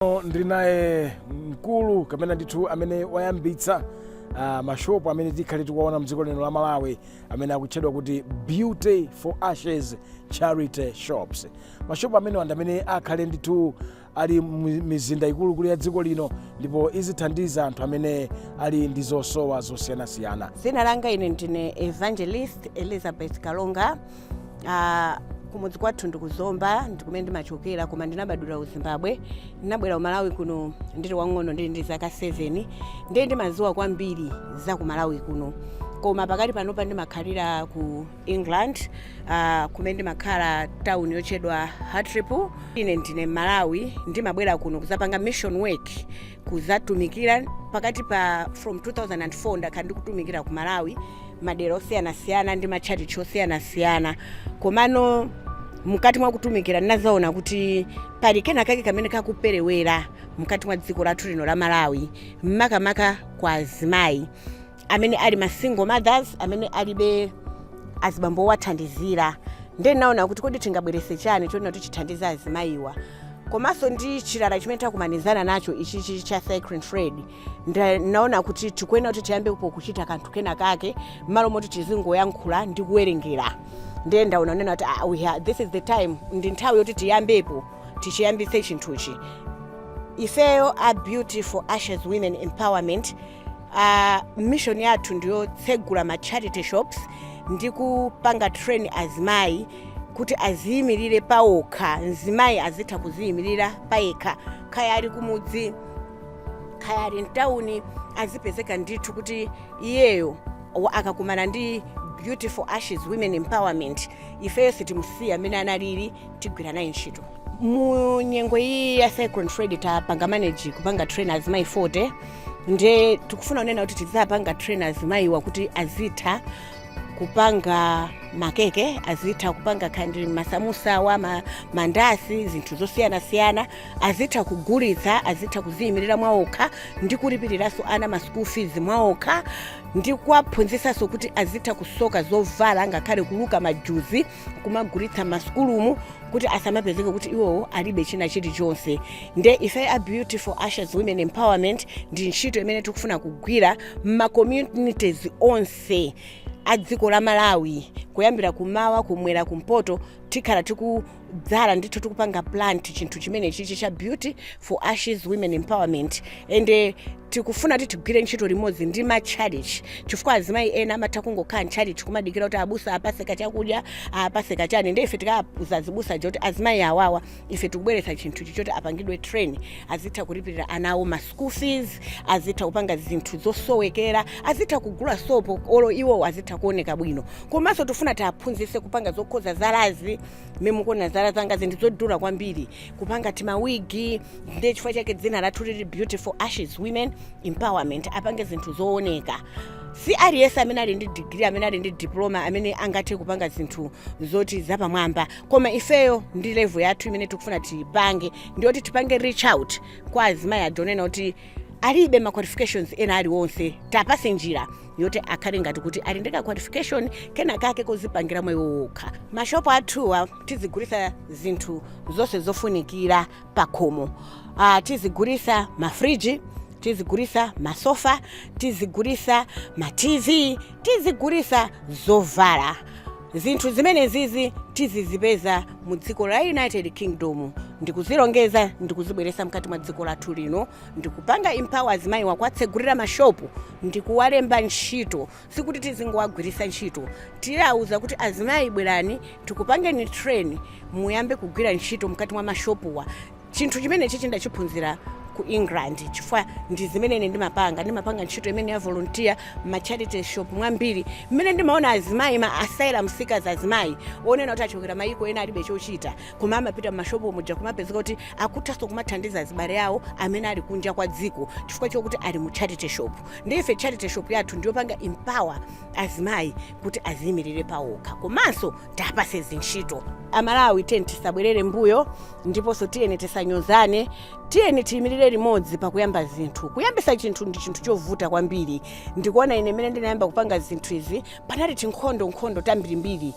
Pano ndili naye mkulu kapena ndithu amene wayambitsa uh, mashopu amene tikhale tikuwaona mdziko lino la malawi amene akutchedwa kuti beauty for ashes charity shops mashopu amenewa ndi amene akhale ndithu ali mu- mizinda ikuluikulu ya dziko lino ndipo izithandiza anthu amene ali ndi zosowa zosiyanasiyana dzina langa ine ndine evangelist elizabeth kalonga Ah, kumudzi kwathu ndi ku zomba ndi kumene ndimachokera koma ndinabadwira ku zimbabwe ndinabwera ku malawi kuno ndili wang'ono ndili ndi zaka 7 ndiye ndimadziwa kwambiri za ku malawi kuno koma pakati panopa ndimakhalira ku england ah, kumene ndimakhala town yotchedwa hartlepool ine ndine mmalawi ndimabwera kuno kuzapanga mission work kuzatumikira pakati pa from 2004 ndakhala ndikutumikira ku malawi madera osiyanasiyana ndi matchalitchi osiyanasiyana komano mkati mwa kutumikira ndinazaona kuti pali kena kake kamene kakuperewera mkati mwa dziko lathu lino la malawi makamaka kwa azimayi amene ali ma single mothers amene alibe azibambo owathandizira ndiye ndinaona kuti kodi tingabwerese chani chonena kuti chithandize azimayiwa komanso ndi chilala chimene takumanizana nacho ichichi cha cyclone freddy Nda- naona kuti tikuyenera kuti tiyambepo kuchita kanthu kena kake mmalo moti tizingoyankhula ndi kuwerengera ndiye ndaona nena kuti ah, we ha- this is the time ndi nthawi yoti tiyambepo tichiyambitse chinthuchi ifeyo a beauty for ashes women empowerment uh, mission yathu ndiyotsegula ma charity shops ndi kupanga train azimayi kuti aziyimirire pawokha mzimayi azitha kuziyimirira payekha kaya ali kumudzi kaya ali mtawuni azipezeka ndithu kuti iyeyo wa- akakumana ndi beauty for ashes women empowerment ifeyo sitimusiya mmene analili tigwira naye ntchito mu nyengo iyi ya cyclone freddy tapanga manage kupanga train azimayi 40 nde tikufuna kunena kuti tidzapanga train azimayiwa kuti azitha kupanga makeke azitha kupanga kandi masamusawa ma, mandasi zinthu zosiyanasiyana azitha kugulitsa azitha kuziyimirira mwaokha ndi kulipiriranso ana ma school fees mwaokha ndi kuwaphunzitsanso kuti azitha kusoka zovala ngakhale kuluka majuzi kumagulitsa m'masukulumu kuti asamapezeke kuti iwowo alibe china chilichonse nde ife a beauty for ashes women empowerment ndi ntchito imene tikufuna kugwira m'macommunities onse a dziko la malawi kuyambira kumawa kumwera kumpoto tikhala dzala ndithu tikupanga plant chinthu chimene chichi cha beauty for ashes women empowerment ende tikufuna kuti tigwire ntchito limodzi ndi matchalichi chifukwa azimayi ena amatha kungokhala ntchalichi kumadikira kuti abusa apase kachakudya apase kachani nde ife tikauza azibusa aja kuti azimayi awawa ife tikubweretsa chinthu ichi choti apangidwe train azitha kulipirira ana awo ma school fees azitha kupanga zinthu zosowekera azitha kugula sopo olo iwowo azitha kuoneka bwino komanso tifuna tiaphunzitse kupanga zokhoza zalazi mmene mukuona zala zangazi ndi zodula kwambiri kupanga timawigi ndiye chifukwa chake dzina lathu lili beauty for ashes women empowerment apange zinthu zooneka si aliyense amene ali ndi degree amene ali ndi diploma amene angathe kupanga zinthu zoti zapamwamba koma ifeyo ndi level yathu imene tikufuna tipange ndiyoti tipange reach out kwa azimayi aja onena kuti alibe ma qualifications ena aliwonse tapase njira yoti akhale ngati kuti ali ndi ka qualification kena kake kozipangira moyo wokha mashopu athuwa tizigulisa zinthu zonse zofunikira pakhomo uh, tizigulisa mafriji tizigulisa masofa tizigulisa ma tv tizigulisa zovala zinthu zimenezizi tizizipeza mu dziko la united kingdom ndikuzilongeza ndikuzibweresa mkati mwa dziko lathu lino ndikupanga empower azimayiwa kuwatsegulira mashopu ndikuwalemba ntchito sikuti tizingowagwirisa ntchito tiwauza kuti azimayi bwerani tikupangeni train muyambe kugwira ntchito mkati mwa mashopuwa chinthu chimenechichi ndachiphunzira ku england chifukwa ndi zimene ine ndimapanga ndimapanga ntchito imeneyi ya volunteer ma charity shop mwambiri mmene ndimaona azimayi ma asylum seekers azimayi onena kuti achokera mayiko ena alibe chochita koma amapita mmashopu muja kumapezeka kuti akuthanso kumathandiza azibale awo amene ali kunja kwa dziko chifukwa chokuti ali mu charity shop nde ife charity shop yathu ndiyopanga empower azimayi kuti aziyimirire pawokha komanso tapase zintchito amalawi tiyeni tisabwerere mbuyo ndiponso tiyeni tisanyozane tiyeni tiyimirire limodzi pakuyamba zinthu kuyambisa chinthu ndi chinthu chovuta kwambiri ndikuona ine mmene ndinayamba kupanga zinthu izi panali tinkhondo nkhondo tambirimbiri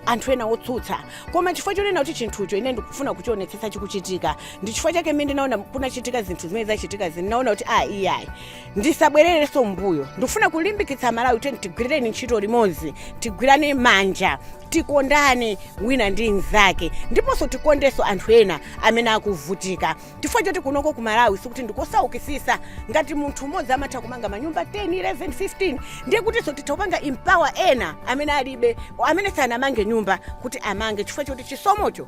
anthu ena otsutsa koma chifukwa chonena kuti chinthucho ine ndikufuna kuchionetsetsa chikuchitika ndi chifukwa chake mmene ndinaona kunachitika zinthu zimene zachitika ndinaona kuti a iyayi ndisabwererenso mbuyo ndikufuna kulimbikitsa amalawi tiyeni tigwirireni ntchito limodzi tigwirane manja tikondane wina ndi mnzake ndiponso tikondenso anthu ena amene akuvutika chifukwa choti kunoko ku malawi sikuti ndikosaukisisa ngati munthu mmodzi amatha kumanga manyumba 10 11 15 ndiye kutinso titha kupanga empower ena amene alibe amene sanamange nyumba kuti amange chifukwa choti chisomocho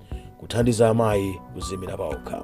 kuthandiza amayi kuziimira paokha